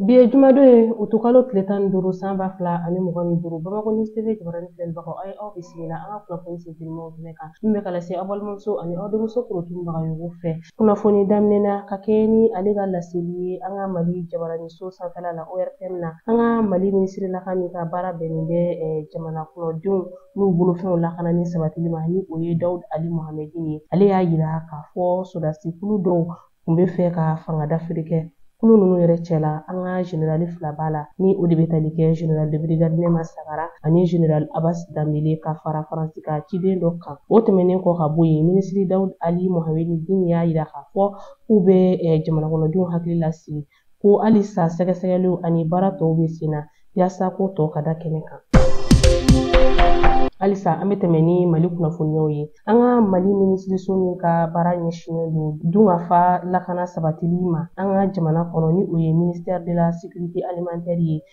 Bi ye jumadon ye utukalo tile tan ni duuru san ba fila ani mugan ni duuru bamakɔ news tv jabarani filɛlibagaw aw ye aw bisimila an ka kunnafoni sentelimaw kɛnɛ kan min bɛ ka lase aw balimamuso ani aw denmuso korotun bagayogo fɛ kunnafoni daminɛ na ka kɛɲɛ ni ale ka laseli ye an ka mali jabaraniso sanfɛla la ortm na an ka mali minisirilaka min ka baara bɛnnen bɛ jamana kɔnɔdenw n'u bolofɛnw lakanani sabatili ma ni o ye dawud ali mohamɛdin ye ale y'a yira k'a fɔ sodasi kulu dɔw tun bɛ fɛ ka fanga dafiri kɛ kulu ninnu yɛrɛ cɛla an ka generali fila b'a la ni o de bɛ tali kɛ general de brigade nema sagara ani general abas dambele ka fara faransi ka ciden dɔ kan o tɛmɛnen kɔ ka bɔ yen minisiri dawud ali mohamedi dini y'a yira k'a fɔ k'u bɛ eh, jamanakɔnɔdenw hakili lasigi ko halisa sɛgɛsɛgɛliw ani baara tɔw bɛ sen na yaasa ko tɔ ka da kɛnɛ kan halisa an bɛ tɛmɛ ni mali kunnafoniyaw ye an ka mali minisiriso min ka baara ɲɛsinnen don dunkafa lakana sabatili ma an ka jamana kɔnɔ ni o ye ministère de la sécurité alimentaire ye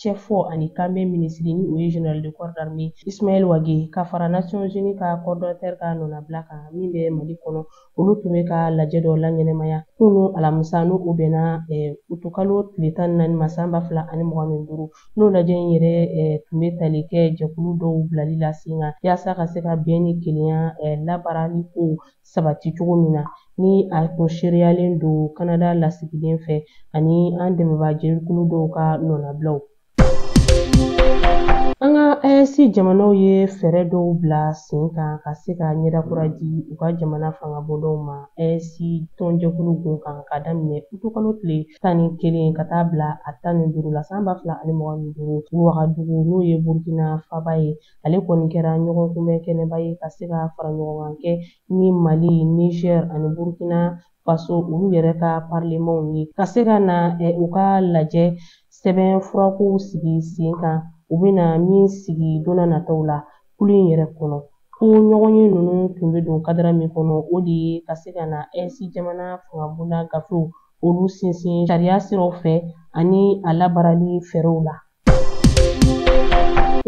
cɛfɔ ani kanbɛn minisiri ni o ye general de corps d'armée Ismaël Wage ka fara Nations Unies ka coordonnateur ka nɔnabila kan min bɛ Mali kɔnɔ olu tun bɛ ka lajɛ dɔ laɲɛnɛmaya kunun alamisa n'o o bɛnna eh, utukalo tile tan ni naani ma san ba fila ani mugan ni duuru n'o lajɛ in yɛrɛ eh, tun bɛ tali kɛ jɛkulu dɔw bilali la sen kan yaasa ka se ka bɛn ni kelenya eh, labaarali kow sabati cogo min na ni a tun seereyalen don kanada lasigiden fɛ ani an dɛmɛbaa jɛkulu dɔw ka nɔnabilaw an ka AES jamanaw ye fɛɛrɛ dɔw bila sen kan ka se ka ɲɛdakura di u ka jamana fangabondaw ma AES tɔnjɛkulu gun kan ka daminɛ utukalo tile tan ni kelen ka taa bila a tan ni duuru la san ba fila ani mugan ni duuru wagadugu n'o ye burukina faba ye ale kɔni kɛra ɲɔgɔn kunbɛn kɛnɛba ye ka se ka fara ɲɔgɔn kan kɛ ni mali niger ani burkina faso olu yɛrɛ ka parlemanw ye ka se ka na u ka lajɛ sɛbɛnfura kow sigi sen kan u bɛna min sigi donna nataw la kulu in yɛrɛ kɔnɔ ko ɲɔgɔnye ninnu tun bɛ don kadara min kɔnɔ o de ye ka se ka na AES jamana fangabonda gafew olu sinsin sariya siraw fɛ ani a labaarali fɛɛrɛw la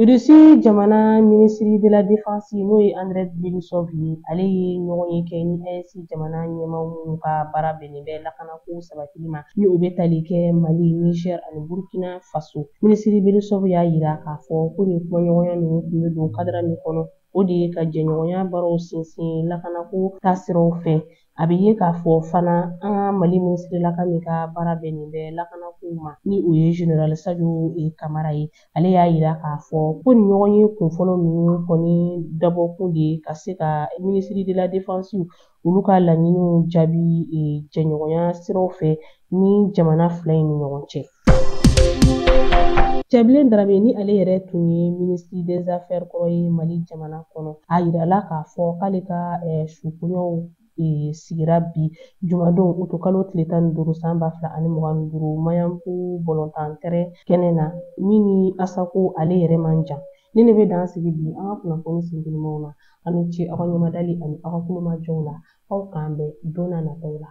Irisi jamana minisiri de la defense n'o ye Andrei Belousov ye ale ye ɲɔgɔnye kɛ ni AES jamana ɲɛmaaw minnu ka baara bɛnnen bɛ lakanako sabatili ma ni o bɛ tali kɛ Mali, Niger ani Burkina Faso. Minisiri Belousov y'a yira k'a fɔ ko nin kumaɲɔgɔnya ninnu tun bɛ don kadara min kɔnɔ, o de ye ka jɛɲɔgɔnya baaraw sinsin lakanako taasiraw fɛ A bɛ ye k'a fɔ fana an ka mali minisirilaka min ka baara bɛnnen bɛ lakanakow ma ni o ye general sajo kamara ye ale y'a yira k'a fɔ ko nin ɲɔgɔnye kunfɔlɔ ninnu kɔni dabɔkun de ye ka se ka minisiri de la defensiw olu ka laɲiniw jaabi jɛɲɔgɔnya siraw fɛ ni jamana fila in ni ɲɔgɔn cɛ cɛbilen darame ni ale yɛrɛ tun ye minisiri des affaires kɔrɔ ye mali jamana kɔnɔ a yirala k'a fɔ k'ale ka eh, sukoɲaw E, sigira bi jumadon utu kalo tile tan ni duuru san ba fila ani mugan ni duuru maɲanbugu balɔntan tɛrɛn kɛnɛ na min ni asako ale yɛrɛ man jan nin de bɛ dan sigi bi an ka kunnafoni sintigimaw na aw ni ce aw ka ɲɛmadali ani aw ka tulomajɔw la aw k'an bɛn don na nataw la